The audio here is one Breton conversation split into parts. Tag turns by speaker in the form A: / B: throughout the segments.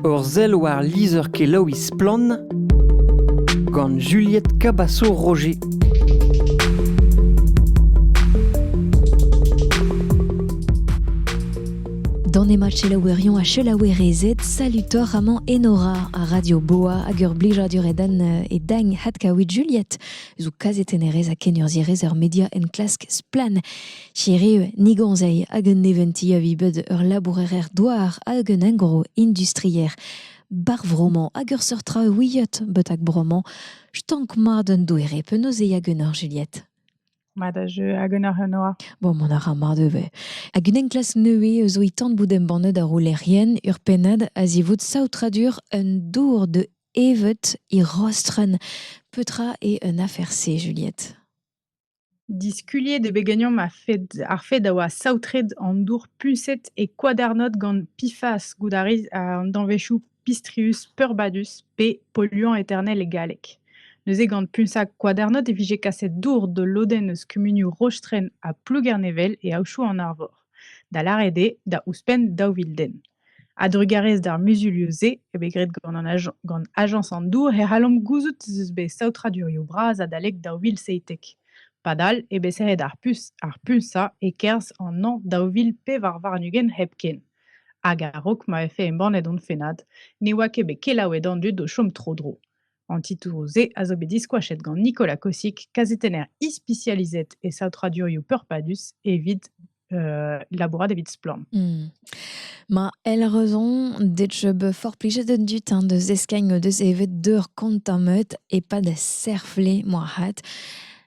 A: Ur sell war lizher-kelaouiñ Splann! gant Juliette Cabasso-Roger.
B: Dans ne ma selaouerion a selaouerezed, salutorramant Enora a Radio Boa hag ur blijadur edan euh, e dagn hat kaouit Juliette, zo kazetennerez ha kenurzhierez ur media enklask splann. Hiriv, nigoñzeiz hag un neventi a vi bet ur labourer-douar hag un engroh industrier. Bar vro-mañ hag ur seurt traoù ouiet betek bro-mañ, stank mat un doere penaos e hag un orjeliet. Mat a jeu
C: hag un arenoa. Bon, mont a ra mat
B: ivez. Hag un enklask nevez zo e tan bout embannet ar roulerien ur pennad a-zivout saotradur un dour de evet e Rostren. Petra eo un afer-se, Juliette?
C: Diskuliet eo bet ganeomp ar fed a oa saotret an dour puñset e Koadernod gant PFAS goût a ris an danvezioù Pistrius peurbadus pe polluant eternel e galleg. Neuze gant puñsañ Koadernod e vije kaset dour d'ul lodenn eus kumunioù Rostren ha Plougernevel e aodoù an Arvor, da lâret eo da ouzhpenn daou vil den. A-drugarez d'ar muzulioù-se eo bet graet gant ajañs an dour e c'hallomp gouzout ez eus bet saotradurioù bras adalek daou vil seitek. Padal eo bet serret ar puñsañ e-kerzh an hañv daou vil pevar warn-ugent hepken. Hag a-raok ma vefe embannet hon fennad, ne oa ket bet kelaouet an dud o chom tro-dro. An titouroù-se a zo bet diskoachet gant Nicolas Kossick, kazetenner ispisializet e saotradurioù peurpadus evit euh, labourat evit Splorn. Hmm. Ma
B: el raison dec be fort plijet du temps de zeskagn de evet deur kontamet e pa da serfle moa hat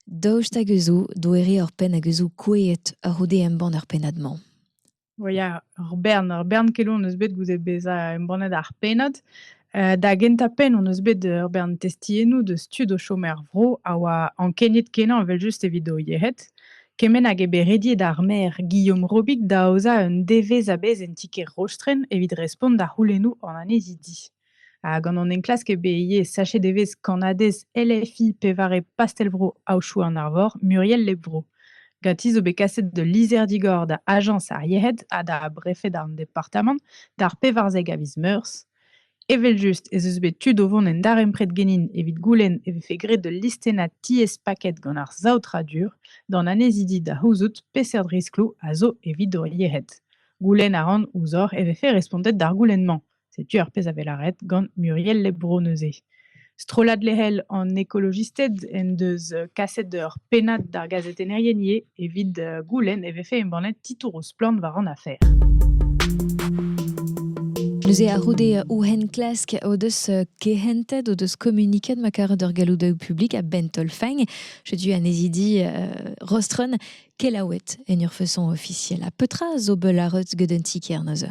B: daoust hag eus doere ur penn hag eus koueet ur c'houde embann ur pennad-mañ. Bon, ya,
C: ur bern, ur bern keloù hon eus bet goude bezañ embannet ar pennad. Euh, da gentañ-penn hon eus bet ur bern testiennoù deus tud o chom er vro a oa ankeniet-kenañ evel-just evit o yec'hed. Kement hag eo bet rediet ar maer Guillaume Robic da aozañ un devezh a-bezh en ti-kêr Rostren evit respont da c'houlennoù an annezidi. Ha gant an enklask eo bet ivez sachet evezh kannadez LFI pevare pastell-vro Aochou an Arvor, Muriel Lebro. Ganti zo bet kaset d'ul lizher-digor da ajañs ar yec'hed ha da brefed an departamant d'ar pevarzek a viz Meurzh. Evel-just ez eus bet tud o vont en darempred genin evit goulenn e vefe graet ul listennad tiez-paket gant ar saotradur d'an annezidi da c'houzout peseurt riskloù a zo evit hor yec'hed. Goulenn a ran ouzhoc'h e vefe respontet d'ar goulenn-mañ. Setu ar pezh a vez lâret gant Muriel Lebro neuze. Strollad lec'hel an ekolojisted en deus kaset ur pennad d'ar gazetennerien ivez. Evit goulenn e vefe embannet titouroù splann war an afer.
B: Neuze a-c'houde ouhen klask o deus kehentet, o deus kommuniket ma karet ur galloudaoù publik a-benn taol-fein. Setu anezidi Rostron kelaouet en ur façon ofisiel. Ha petra zo beul arreut gant un ti-kêr neuze?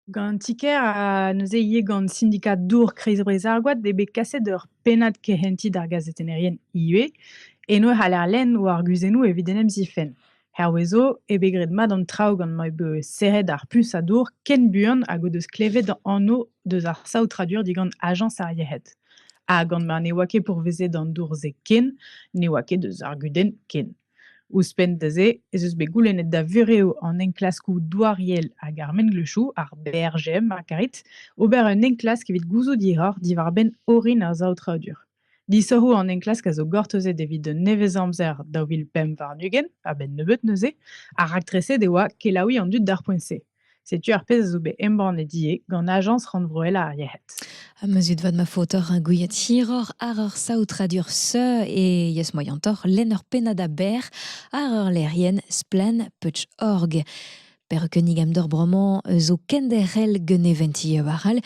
C: Gant an ti-kêr ha neuze ivez gant sindikad dour Kreiz-Breizh ar Goad eo bet kaset ur pennad kehentiñ d'ar gazetennerien ivez. Eno e c'haller lenn o arguzennoù evit en em zifenn. Hervez zo eo bet graet mat an traoù gant ma eo bet serret ar puñs a dour ken buan hag o deus klevet anv deus ar saotradur digant ajañs ar yec'hed. Ha gant ma ne oa ket pourvezet an dour-se ken, ne oa ket deus ar gudenn ken. Ouzhpenn da se ez eus bet goulennet da vurev an enklaskoù douariel hag ar mengleuzioù, ar BRGM ma karit, ober un enklask evit gouzout hiroc'h diwar-benn orin ar saotradur. Disoc'hoù an enklask a zo gortozet evit un nevez-amzer daou vil pemp warn-ugent, a-benn nebeut neuze, ha raktreset e oa kelaouiñ an dud d'ar poent-se. Setu ar pezh a zo bet embannet ivez gant Ajañs rannvroel ar yec'hed. Ha ma zud vat ma
B: faot oc'h ar gouiad hiroc'h àr ur saotradur seu e yes moyantoc'h lenn ur pennad aber àr ur lec'hienn Splann.org. Perc'h kinnig amdor bremañ zo kenderc'hel gant e vent war all.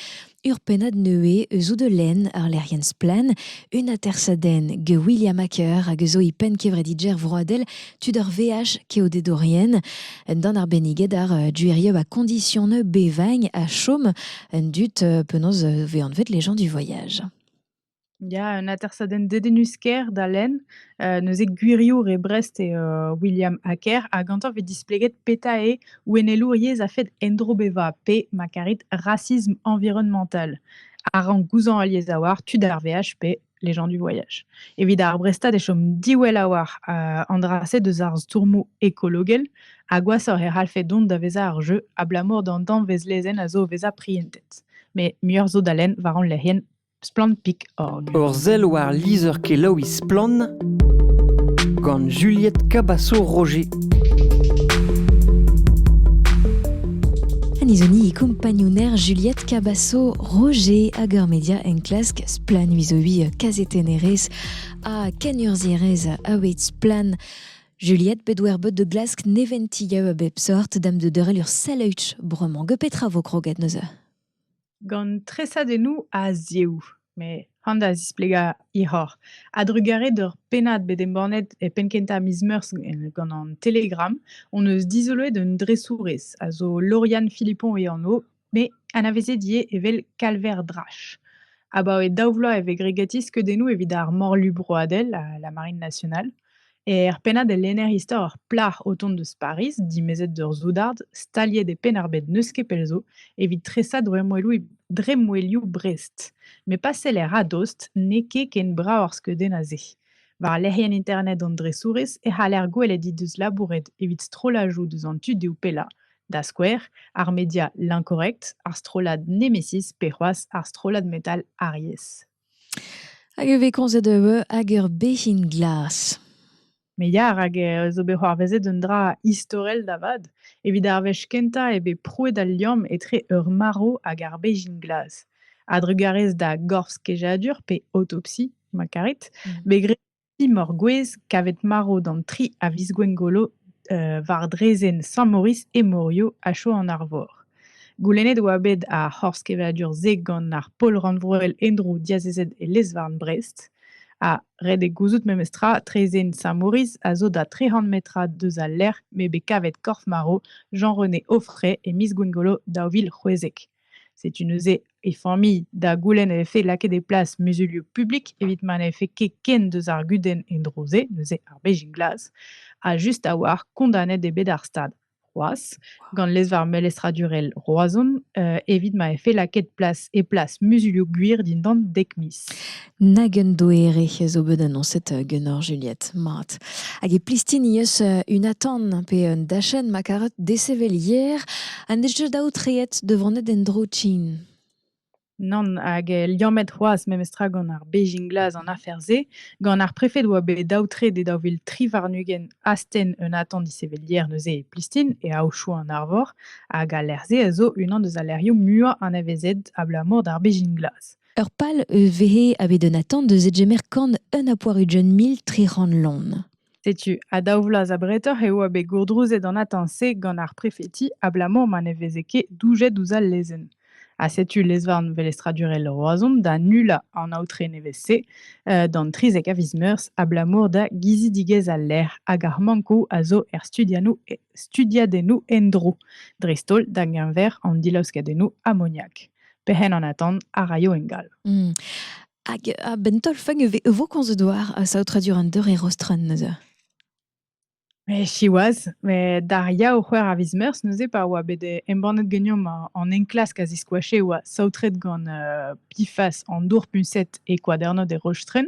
B: Ur pennad neuze eus Eau de Laine, ur lec'hienn splann, un atersadenn gant William Acker hag eus e penn kevredidjer vroadel tud ar VH keodedorien. Un dan arbenniget ar euh, duerieu a condition bevagn ha chom un dud euh, penaos euh, ve anvet les gens du voyage. Ya,
C: un atersadenn dedennus-kaer da lenn, heu, neuze gwiriour e Brest eo, heu, William Hacker ha gantañ 'vez displeget petra eo ouennelour yezh a-fed endro bevañ pe, ma karit, racisme environnemental. A rank gouzañv al yezh a-walc'h tud ar veaj pe les gens du voyage. Evit ar Brestad e chom diwell a-walc'h, heu, an dra-se deus ar stourmoù ekologel ha gwashoc'h e c'hallfe dont da vezañ ar jeu abalamour d'an danvez lezenn a zo o vezañ prientet. Mais muioc'h zo da lenn war hon lec'hienn. Splann.org Ur sell war
A: lizher-kelaouiñ Splann gant Juliette Cabasso-Roger.
B: Anizoni e kompagnouner Juliette Cabasso Roger hag ur media enklask Splann vizovi kazetennerez ha kenurzhierez a Splann. Juliette bet wer bot de glask neventi gaou a bep sort dam de deurel ur sell bremañ. Ge petra vo kroget neuze? gant
C: tresadennoù a-ziehoù, met han da zisplegañ hiroc'h. A-drugarez d'ur pennad bet embannet e penn-kentañ miz Meurzh gant an Telegram hon eus dizoloet un dresourez a zo Lauriane Philippon e anv, met anavezet ivez evel Kalver Drache. Abaoe daou vloaz e vez gregatit skeudennoù evit ar Morlu broadel, la Marine nationale. Er pennad e lenner istor ur plac'h o tont eus Pariz, dimezet d'ur soudard, staliet e penn-ar-bed n'eus ket pell zo, evit tresañ dremmwelioù Brest. Met pa seller a-dost, n'eo ket ken brav ar skeudenn a-se. War lec'hienn internet an dresourez e c'haller gwelet he deus labouret evit strollajoù deus an tudioù pellañ, da skouer ar media L'Incorrect, ar strollad Nemesis pe c'hoazh ar strollad metal Aries. Hag
B: e vez komzet eu hag ur bezhin glas. Me ya,
C: rak eh zo bet c'hoarvezet un dra istorel da vat. Evit ar wech kentañ eo bet prouet al liamm etre ur marv hag ar bezhin glas. A-drugarez da gorf-kejadur pe autopsie, ma karit, bet graet Timor gwez kavet marv d'an tri a viz Gwengolo war draezhenn Sant-Maurice e Morio a chom en Arvor. Goulennet oa bet ar c'horz-kevadur-se gant ar pol rannvroel en-dro diazezet e lez-varn Brest. Ha ret eo gouzout memestra, traezhenn Sant-Maurice a zo da trec'h metrad deus al lec'h m'eo bet kavet korf-marv Jean-René Auffray e miz Gwengolo daou vil c'hwezek. Setu neuze e familh da goulenn e vefe lakaet e plas muzulioù publik evit ma ne vefe ket ken deus ar gudenn en-dro-se, neuze ar Bezhin glas, ha just a-walc'h kondanet eo bet ar Stad c'hoazh gant lezvarr melestradurel Roazhon evit ma vefe lakaet plas e plas muzulioù gwir dindan dek miz. Nag un
B: doere a zo bet annoncet ganeoc'h, Juliette, mat. Hag e plistini eus un atant pe un dachenn ma karet desevel hier ha n'eus ket aotreet da vonet en-dro tsin. Nann,
C: hag liammet c'hoazh memestra gant ar Beijing Glas an afer-se, gant ar prefed oa bet aotret e daou vil tri warn-ugent astenn un atant disevel hier neuze e Plistin e Aochou an Arvor, hag al lec'h-se a zo unan deus al lec'hioù muiañ anavezet abalamour d'ar Beijing Glas. Ur pal eus
B: vehe a bet un atant eus edgemer kan un a poarudion mil tri c'hant lon. Setu, ha daou
C: vloaz abretoc'h eo a bet gourdrouzet an atant-se gant ar prefeti abalamour ma ne veze ket doujet ouzh al lezenn. Ha setu lezvarn velestradurel Roazhon da nullañ an aotre nevez-se uh, d'an 30 a viz meurzh abalamour da gizidigezh al lec'h hag ar mankoù a zo er studiadennoù endro, dreist-holl da geñver an dilaoskadennoù amoniak. Pehen an atant a raio ingal. Hmm. Hag
B: a-benn taol-fang e vo komzet war saotradur an deur e Rostren neuze?
C: Mais siwazh, met d'ar ya o c'hwec'h a viz meurzh neuze pa oa bet embannet ganeomp an enklask a ziskoache e oa saotret gant uh, Pifas an dour puñset e Kwadernod e Rostren,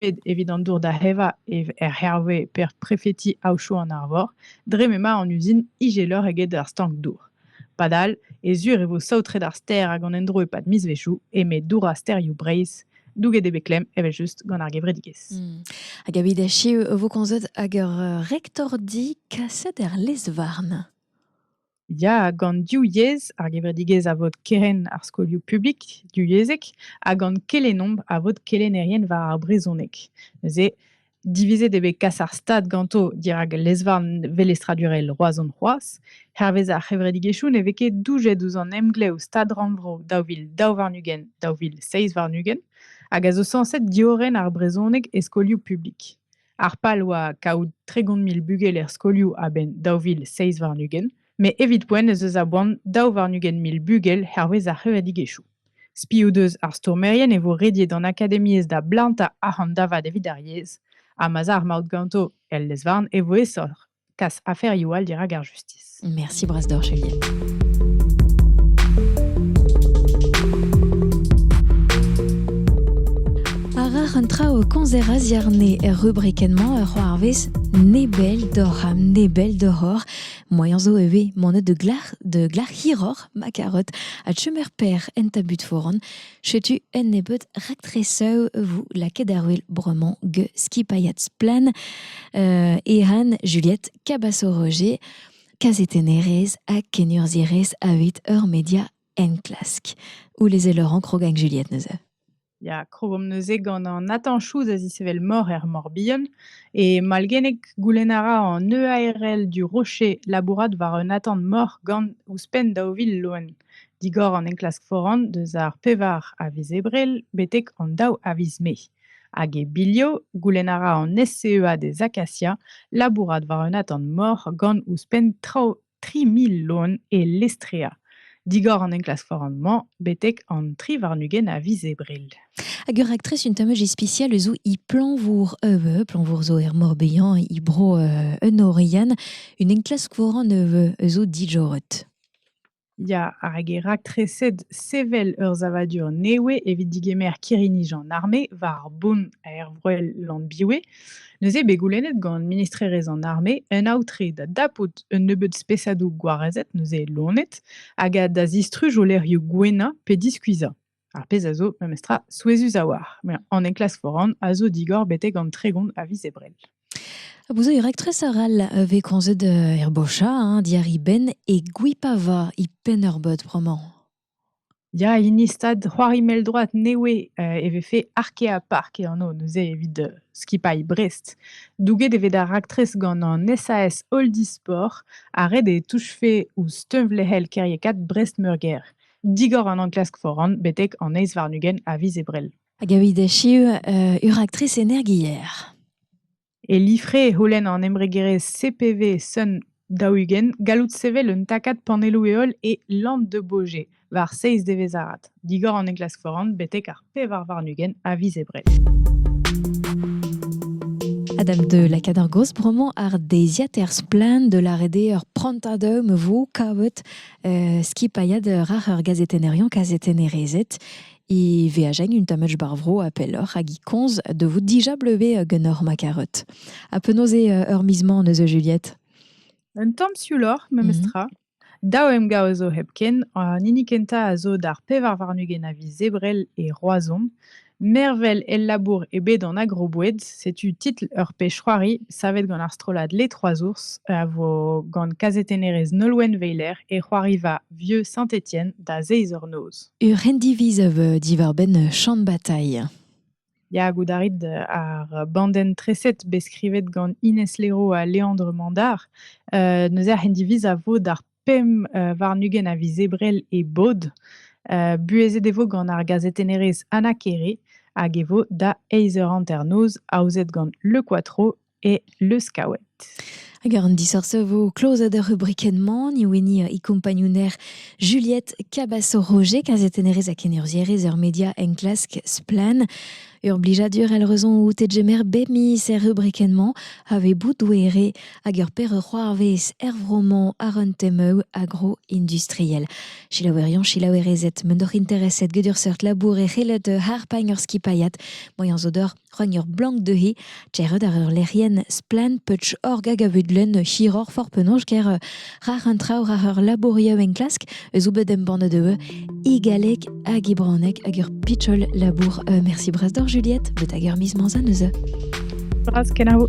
C: bet evit an dour da evañ er Herve per prefeti Aochou an Arvor dre m'emañ an uzin ijeloc'h eget ar stank-dour. Padal e sur e vo saotret ar stêr hag an endro e-pad mizvezhioù eme dourañ stêrioù Breizh douget eo bet klemm evel-just gant ar gevredigezh. Hmm. Hag evit
B: echu e vo komzet hag ur rektordi kaset er lez-varn.
C: Ya, gant div yezh, ar gevredigezh a vod kerenn ar skolioù publik divyezhek ha gant kelennomp a vod kelennerien war ar brezhoneg. Neuze, divizet eo bet kas ar stad ganto dirak lezvarn velestradurel Roazhon c'hoazh. Hervez ar c'hevredigezhioù ne vez ket doujet ouzh an emglev Stad-rannvro daou vil daou warn-ugent daou vil seizh warn-ugent hag a zo sañset diorren ar brezhoneg e skolioù publik. Ar pal oa kaout tregont mil bugel er skolioù a-benn daou vil seizh warn-ugent, met evit poent ez eus a boan daou warn-ugent mil bugel hervez ar c'hevredigezhioù. Spi o deus ar stourmerien e vo rediet an akademiezh da blantañ arc'hant da vat evit ar yezh, ha ma'z a ar maout ganto el lez-varn e vo aesoc'h. kas aferioù all dirak ar justis. Merci Brasdorch,
B: Elien. Arar un traoù konzer a ziarne er rubrikennement ur c'hoarvez nebel d'or ha nebel d'horor. Moaien zo e vez monet de glac'h de glac'h hiror ma carotte a chemer per en tabut foran. Setu un nebeud raktresoù 'vo lakaet ar wel bremañ get skipailhad Splann euh Ehan, Juliette, Cabaço-Roger, kazetennerez ha kenurzhierez a-hed ur media enklask. Ouleze Laurent krog hag Juliette neuze. Ya, krogomp
C: neuze gant Nathan Chouz a zisevel mor er Morbihan. E malgennek goulenn a ra an EARL du Rocher labourat war un atant mor gant ouzhpenn daou vil loen. digor an enklask foran deus ar pevar a viz Ebrel betek an daou a viz Mae. Hag e bilho, goulenn a ra an SCEA des Acacias labourat war un atant mor gant ouzhpenn traoù 3000 loen e Lestrea. Digor an enklask foran-mañ betek an tri warn-ugent a viz Ebrel. Hag ur raktres
B: un tammaj ispisial eus i planvour euh, planvour zo er Morbihan, i bro euh, un Orian, un enklask foran euh, eus o dijorret. Ya,
C: hag e raktreset sevel ur savadur nevez evit digemer kirri-nij an arme war bont aervroel Llanbiwe. Neuze bet goulennet gant ministrerezh an arme un aotre da dapout un nebeud spesadoù gwarezet neuze lonet hag da zistruj o lec'hioù gouennañ pe diskuizhañ. Ar pezh a zo memestra souezhus a-walc'h. Met an enklask foran a zo digor betek an tregont a viz Ebrel. Vous avez
B: rectrice arall avec konzet herbosha, hein, diari ben et gwipava i pennerbot bremañ. Ya,
C: hini stad c'hoari mell-droad newe euh, e vefe arkea park e anv neuze evit euh, skipailh Brest. Douget e vez da raktres gant an SAS Oldisport ha ret e touchfe ouzh teunvlec'hel kêriekaat Brest-Meurgêr. digor an enklask foran betek an eizh warn-ugent a viz Ebrel. Hag evit echu,
B: euh, ur actrice energière. E
C: lifre e holen an embregerezh CPV Sun daougen gallout sevel un takad panelloù-heol e Land de Bauge war 6 devezh arat, digor an enklask foran betek ar pevar warn-ugent a viz Ebrel.
B: Adam de la Cadargos bremañ ar deiziad er splann de la rede ur prantadum vo kavet euh, skipailhad rar ur gazetenerion kazetenerezet e veajen un tamach barvro a pelloc'h hag i konz de vous dija bleve genor ma karet. A penaos eo ur mismañ eus Juliette Un tamm
C: siouloc'h, memestra. Mm Daou emgav a zo hepken, an hini kentañ a zo d'ar pevar warn-ugent a viz Ebrel e Roazhon. Mervel el labour eo bet an agroboued. Setu titl ur pezh-c'hoari savet gant ar strollad Les Trois Ours a vo gant kazetennerez Nolwenn Weiler e c'hoariva Vieux Saint-Étienne da zeiz eur noz. Ur rendiviz a
B: vez diwar-benn Champ Bataille. Ya, goût
C: a rit ar bandenn-treset bet skrivet gant Inès Léraud ha Léandre Mandard. Euh, neuze ar c'hendiviz a vo d'ar pemp euh, warn-ugent a viz Ebrel e bod. Euh, buhezet e vo gant ar gazetennerez Anna Kere hag e vo da eizh eur hanternoz, aozet gant Le Quattro et le scout. Hag an
B: disoc'h vo klozet ar rubrikenn-mañ, ni wini e kompagnouner Juliette Cabasso-Roger, kazetennerez ha kenurzierez ur media enklask Splan. Ur blijadur elle raison out e jemer bep miz er rubrikenn-mañ a vez boudouere hag ur per c'hoarvez er vro-mañ ar un temeu agro-industriel. Chilaouerion, chilaouerezet, m'en doc'h intereset gedur seurt labour e c'helet harpagn ur skipaiat, moyen zo d'or Rugn ur blank dezhe, Tchered ar ur lec'hienn splann Putsch Org hag a vud lenn hiroc'h for penaos ger euh, rar an traoù rar ur labourioù enklask eus bet embannet eu i galleg hag i branek hag ur pitchol labour. Euh, merci bras d'or Juliette,
C: bet hag
B: ur miz manzan eus Bras
C: kenavo.